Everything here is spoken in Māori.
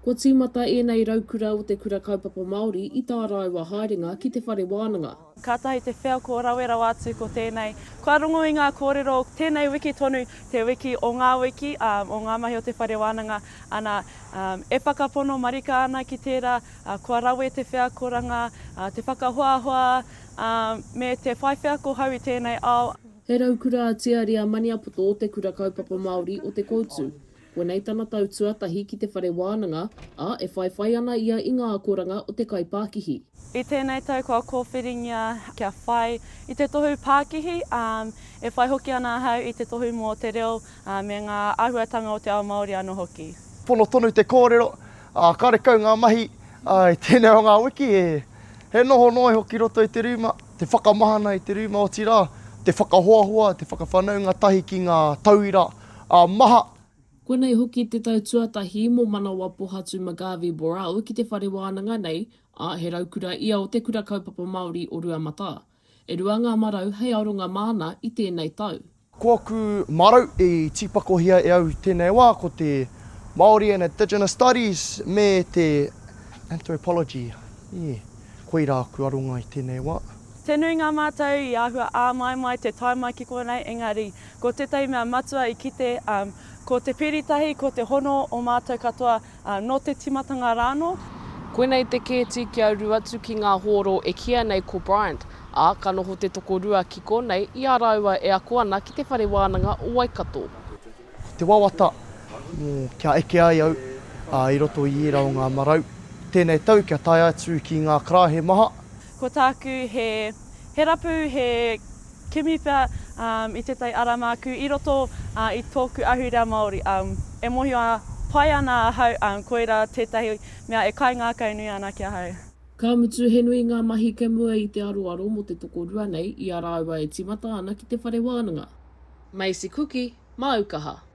Kua tīmata ēnei raukura o te Kura Kaupapa Māori i tā rāua haerenga ki te whare wānanga. Kātahi te wheako rawe rawa atu ko tēnei. Kua rongo i ngā kōrero tēnei wiki tonu, te wiki o ngā wiki, ā, o ngā mahi o te whare wānanga, ana, ā, e whakapono marika ana ki tērā, ā, kua rawe te wheakoranga, ā, te whakahoahoa, ā, me te whai wheako hou i tēnei ao. He raukura a Tiari a Maniapoto o te Kura Kaupapa Māori o Te Koutu. Koinei tana tau tuatahi ki te whare wānanga, ā, e whaiwhai ana ia i ngā akoranga o te kaipākihi. I tēnei tau kua kōwhiringia kia whai i te tohu pākihi, ā, e whai hoki ana ahau i te tohu mō te reo me ngā āhuatanga o te ao Māori anō hoki. Pono tonu te kōrero, ā, karekau ngā mahi, ā, i tēnei o ngā wiki he noho noa iho ki roto i te rūma, te whakamahana i te rūma, otirā, te whakahoahoa, te whakawhanaunga tahi ki ngā tauira, Ā, maha! Koinei hoki te tau tuatahi mō Manawa Pohatu McGarvey Borau ki te whare wānanga nei, ā, he raukura ia o te Kura Kaupapa Māori o Ruamata. E rua ngā marau hei aronga māna i tēnei tau. Ko aku marau i tīpakohia e au i tēnei wā ko te Māori and Indigenous Studies me te Anthropology, ē, koirā aku aronga i tēnei wā. Te nui ngā mātau i āhua āmaimai te tae mai ki konei, engari, Ko tētahi mea matua i kite, ko te piri tahi, ko te hono o mātou katoa, nō te tīmatanga rā anō. Koinei te kēti kia uru atu ki ngā hōro e kīia nei ko Bryant, ā, ka noho te tokorua ki konei i a rāua e ako ana ki te Whare Wānanga o Waikato. Ko te wawata, kia eke ai au i roto i ērā o ngā marau tēnei tau kia tae atu ki ngā karaehe maha. Ko tāku he rapu, he Kimi pea i tētahi ara māku i roto i tōku ahurea Māori. E mōhio pai ana ahau koirā tētahi mea e kaingākaunui ana ki ahau. Ka mutu he nui ngā mahi kei mua i te aroaro mō te tokorua nei i a rāua e tīmata ana ki te whare wānanga. Macy Kuki, māu kaha.